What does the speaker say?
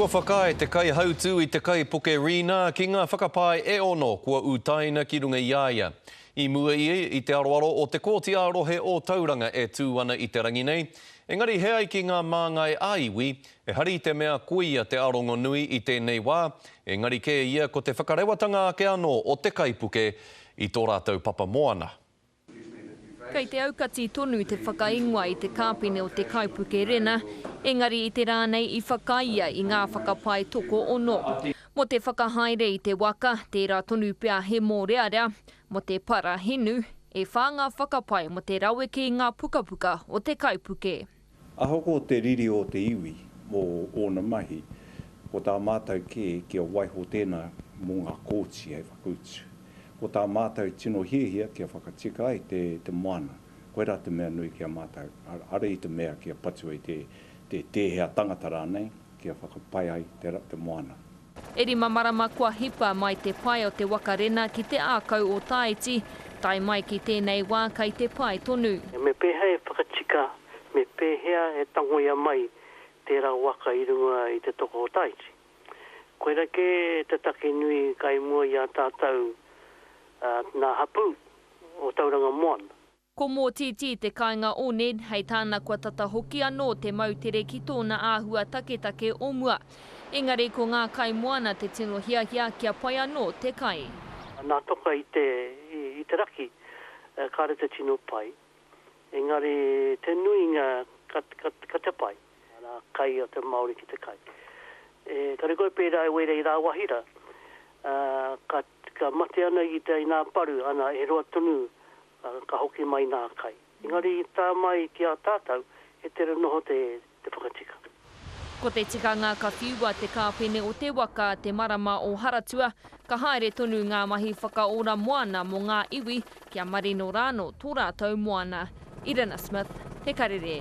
Kua whakaae te kaihautū i te kaipuke Rina ki ngā whakapae e ono kua utaina ki runga i a ia. I mua ia i te aroaro o Te Kōti ā Rohe ō Tauranga e tū ana i te rangi nei, engari he ai ki ngā māngai ā iwi, ehara i te mea koia te arongonui i tēnei wā, engari kē ia ko te whakarewatanga ake anō o te kaipuke i tō rātou papa moana. Kei te aukati tonu te whakaingoa i te kāpene o te kaipuke Rena, engari i te rā nei i whakaia i ngā whakapae tokoono. Mō te whakahaere i te waka, tērā tonu pea he mōrearea, mō te para hinu, e whā ngā whakapae mō te raweke i ngā pukapuka o te kaipuke. Ahakoa te riri o te iwi mō ōna mahi, ko tā mātou kē kia waiho tēnā mō ngā kōti hei whakautu. Ko tā mātou tino hiahia kia whakatika ai te moana, koirā te mea nui ki a mātou, arā i te mea kia patua i te tēhea tangata rānei, kia whakapai ai te moana. E rima marama kua hipa mai te pae o te waka rena ki te ākau o Tāiti, tae mai ki tēnei wā kai te pae tonu. Me pēhea e whakatika, me pēhea e tangoia mai tērā waka i runga i te toko o Tāiti? Koirā kē te take nui kai mua i a tātou nā hapū o Tauranga Moana. Ko Mōtītī te kāinga o Ned, hei tāna kua tata hoki anō te moutere ki tōna āhua taketake o mua. Engari ko ngā kaimoana te tino hiahia kia pai anō te kai. Nā toka i te i te raki kāre te tino pai, engari te nuinga ka ka ka te pai. Nā kai o te Māori ki te kai. Engari koe pērā e wera i rāwahi rā, ka ka mate ana i te i nā paru, ana e roa tonu ka hoki mai nā kai. Engari i tā mai ki a tātau, he tere noho te whakatika. Ko te tikanga ka whiua te kāpene o te waka te marama o Haratua, ka haere tonu ngā mahi whakaora moana mō ngā iwi kia marino rāno tō rātou moana. Irina Smith, Te Karere.